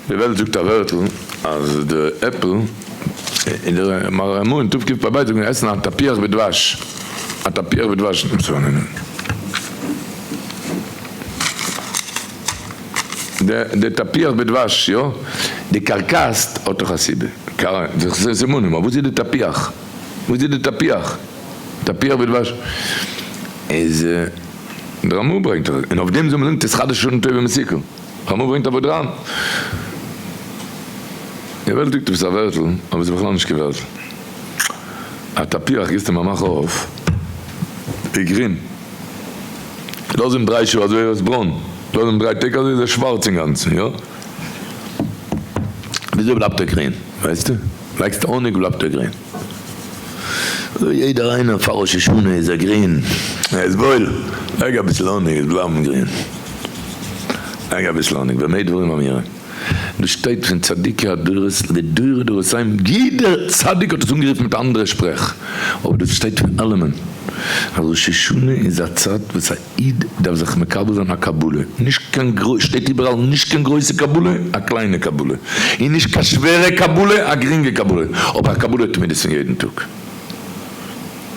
די וועלט זאגט א ווערטל אז די עפל אין די מראה המון טוב קומט פארביי זאגן עסן א תפוח בדבש א תפוח בדבש נישט צו נעמען די תפוח בדבש יא די קארקעס האט דאך א סיבה זיך זיי סימנים אבער וואס איז די תפוח וואס איז די תפוח תפוח בדבש איז די רמא ברענגט און אויף דעם זאל מען זאגן תתחדש שנים טובים מסוכה. הרב מור ברענגט א ווארט אריין, געוועלטיג, דו ביסט א ווערטל, אבער ס'איז בכלל נישט קיין ווערטל. א תפוח גיסט אים א מאך אויף, איז גרין. לאז אים דריי שעה אזוי איז עס ברוין, לאז אים דריי טעג אזוי איז עס שווארץ אינגאנצן, יא? וויאזוי בלייבט ער גרין, ווייסטו? ווייסט האניג בלייבט ער גרין. אוי יעדער איינער פאר ראש השנה איז ער גרין. ער איז וואויל. לייג אביסל האניג עס בלייבן גרין. לייג אביסל האניג במה דברים אמורים. דאס שטייט פון צדיקי הדורות לדורי דורותיים יעדער צדיק האט עס אנגערופן מיט א אנדערע שפרעך אבער דאס שטייט פון אלעמען אז ראש השנה איז א צייט וואס א איד דארף זיך מקבל זיין א קבלה, נישט קיין גרויס, שטייט איבעראל, נישט קיין גרויסע קבלה, א קליינע קבלה, און נישט קיין שווערע קבלה, א גרינגע קבלה, אבער א קבלה תמידית פון יעדן טאג.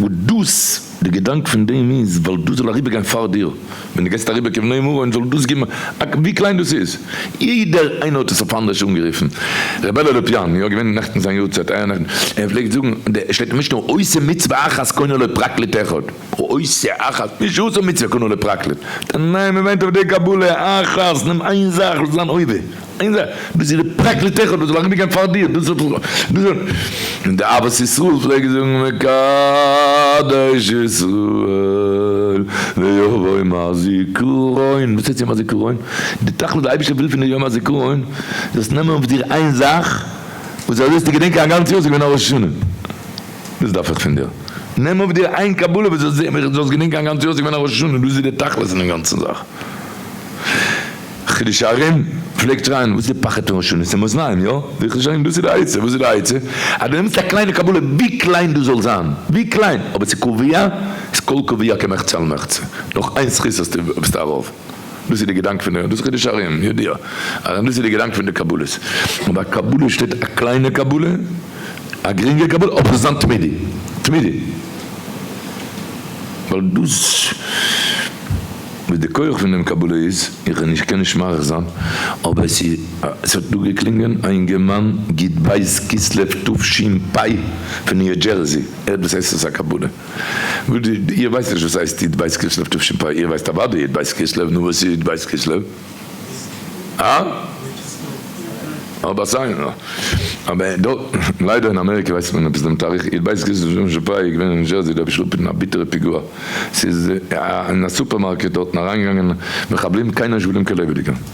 וואס דאס, די געדאנק פון דעם איז, ווייל דאס זאל אריבערגיין פאר דיר, ווען די גייסט אריבער כבני מרון, זאל דאס געבן, ווי קליין דאס איז, יעדער איינער האט עס אויף אנדערש אנגערופן, ר' בערל לופיאן, יא, געווען נעכטן זיין יארצייט, איה נעכטן, ער פלעגט זאגן, שטייט אין משנה, עושה מצוה אחת קונה לו פרקליט אחד. ועושה אחת נישט עושה מצוה כנראה לפרקלין, ניין מען וויינט אויף די קבלה אחת נעם איין זאך וואס איז אן עובר איין זאך דאס איז די פרקלית אחד וואס זאל אריבער גיין פאר דיר דאס איז און די אהבת ישראל פלעגן זאגן מקדש ישראל ויבוא יום הזיכרון, וואס הייסט יום הזיכרון? די תכלית וואס די אייבערשטער וויל פון דיר יום הזיכרון זאלסט נעמען אויף דיר איין זאך וואס אזוי וועסטו געדענקען א גאנץ יאר ס'איז געווען א ראש השנה. דאס דארף איך פון דיר. נעם אויף דיר איין קבלה וואס זאל זען ווי איך זאל עס געדענקען א גאנץ יאר, עס איז געווען א ראש השנה, דאס איז די תכלית פון דעם גאנצן זאך. חידושי הרים פלעגט שרייען וואס איז די פחד פון ראש השנה, עס איז מאזניים, יא? זאג איך חידושי הרים דאס איז די עצה, וואס איז די עצה? אז דו נעמסט א קליינע קבלה ווי קליין דאס זאל זיין, ווי קליין, אבער עס איז קביעה, איז כל קביעה כמחצה על מחצה, נאך איין זכות האסטו ביסטו ארויף. דאס איז די געדאנק פון די, דאס חידוש הרים, יודע, הרי דאס איז די געדאנק פון די קבלות, און ביי קבלות שטייט א קליינע קבלה, א גרינגע קבלה, אבער זיין תמידי, תמידי, ווייל דאס וואס די כח פון דעם קבלה איז, איך נישט קען נישט מאריך זיין, אבער עס איז, עס האט דא געקלינגען א אינגערמאן ג ט ב' כסלו תשפ פ פון ניו דזשערסי, ער האט וואס הייסט עס א קבלה. איר ווייסט נישט וואס הייסט י' בית כסלו תשפ א, איר ווייסט אוודאי י' בית כסלו, נו וואס איז י' בית כסלו? הא? אבער סיי נא, אבער דארט, ליידער אין אמעריקע ווייסט מען עפעס דעם תאריך, י' בית כסלו תשפ א איז געווען אין ניו זשערסי, דא האב איך אפגעטון א ביטערע פיגוע, ס'איז אין א סופערמארקעט דארטן אריינגעגאנגען מחבלים קיינער נישט געבליבן קיין לעבעדיגער.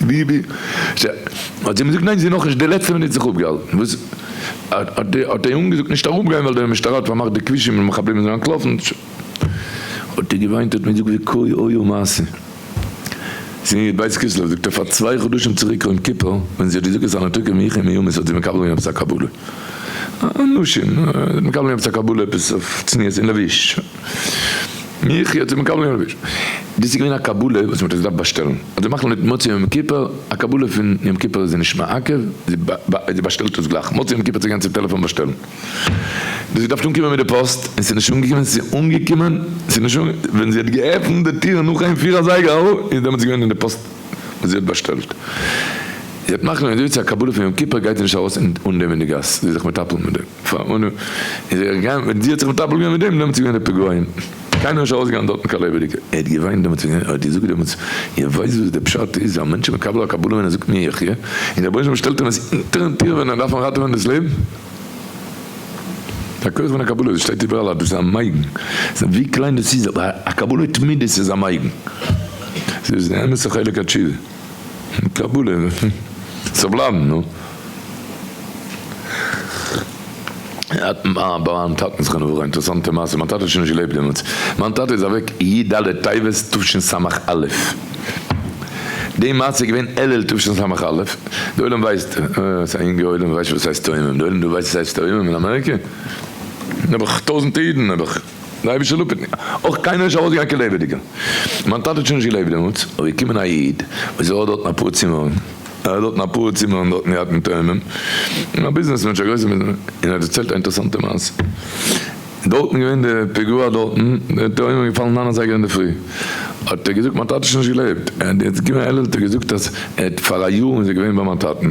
ביבי, ש, האט זי אים געזאגט ניין זי נאכנישט די לעצטע מינוט זיך אפגעהאלטן וואס האט די האט די אנגעזאגט נישט אראפ גיין ווייל די משטרה האט פארמאכט די כבישים און מחבלים זענען אנטלאפן ש, האט ער געוויינט האט מען געזאגט ווי קוי אויו מעשה זי איז בית כסלו זאגט ער פאר צוויי חדשים צוריק אוים כיפור ווען זי האט געזאגט אז נתוקה מיחי מימות האט זי מקבל געווען עפעס א קבלה א נשים זי האט מקבל געווען עפעס א קבלה עפעס אויף צניעות און לבוש. מיך האט ער מקבל געווען רביש. דאס איז געווען א קבלה וואס מ'האט עס געדארפט באשטעלן. אז זיי מאכן מיט מוצאי יום כיפור א קבלה פון יום כיפור איז זיי נישט מעכב, זי באשטעלט עס גלייך מוצאי יום כיפור צו גיין צו טעלעפאן באשטעלן. דאס איז געדארפט אנקומען מיט די פאסט און ס'נישט אנגעקומען, ס'איז אנגעקומען, ס'איז נישט אנגע, ווען זי האט געעפנט די טיר נאך איין פיר אזייגער איז דעמאלטס געווען אין די פאסט וואס זי האט באשטעלט. זי האט מאכן געווען אזוי צו א קבלה פון יום כיפור גייט זי נישט ארויס אן דעם אין די גאס, זי איז זיך מטפל מיט דעם. פאר אנא איז ער געגאנגען מיט די האט זיך מטפל געווען מיט דעם דעמאלטס איז געווען די פוגרוים קיינער נישט ארויס געגאנגען דארטן קיין לעבעדיגע ער האט געוויינט דעמאלטס ווען ער האט געזאגט דעמאלטס איר ווייסט וואס די פשט איז א מענטש איז מקבל א קבלה ווען ער זאגט מי יחיה און דער בוישטער שטעלט אים עס אונטערן טיר ווען ער דארף אנראטעווען דאס לעבן די כח פון א קבלה דאס שטייט איבעראל אז דאס איז א מיידן ווי קליין דאס איז אבער א קבלה תמידית איז א מיידן דאס איז די אמת'ע חלק התשובה. קבלה זאל בלייבן נו. אה ביי מיין טאטן זכרונו לברכה, אינטערעסאנטע מעשה, מיין טאטע האט שוין נישט געלעבט דעמאלטס, מיין טאטע איז אוועק י ד טבת תשס א, די מעשה איז געווען אלול תשס א, די עולם ווייסט, ס'איז א יונגע עולם וואס ווייסט וואס הייסט תאומים, די עולם דא ווייסט וואס הייסט תאומים אין אמעריקע? נעבעך טויזענטע אידן נעבעך. די אייבערשטער לאפערט נישט, אויך קיינער איז נישט ארויסגעגאנגען קיין לעבעדיגע, מיין טאטע האט שוין נישט געלעבט דעמאלטס, אבער איז געקומען א איד וואס האט דארטן אפאר צימערן, ער האט דארטן אפאר צימערן דארטן געהאט מיט תאומים, און א ביזנעס מענטש א גרויסע ביזנעס מענטש, און ער האט דערציילט א אינטערעסאנטע מעשה, דארטן איז געווען די פיגוע דארטן, די תאומים איז געפאלן ניין אזייגער אינדערפרי, האט ער געזאגט מיין טאטע איז שוין נישט געלעבט, ער האט געזאגט ער האט פאר א יאר איז ער געווען ביי מיין טאטן.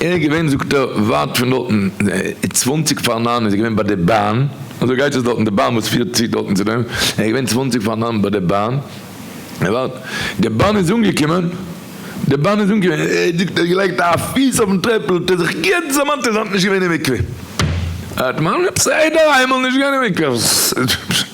ער איז געווען זאגט ער ווייט פון דארטן, צוואנציג פאר ניין איז ער געווען ביי די באן, אזוי גייט עס דארטן די באן וואס פירט צו דארטן צו דעם, ער איז געווען צוואנציג פאר ניין ביי די באן, ער ווארט, די באן איז אנגעקומען, די באן איז אנגעקומען, ער האט זאגט ער האט געלייגט א פיס אויפן טרעפל האט ער זיך גוט דערמאנט אז ער האט נישט געווען אין מקווה, ער האט מיינט עפעס איידער איינמאל נישט גיין אין מקווה.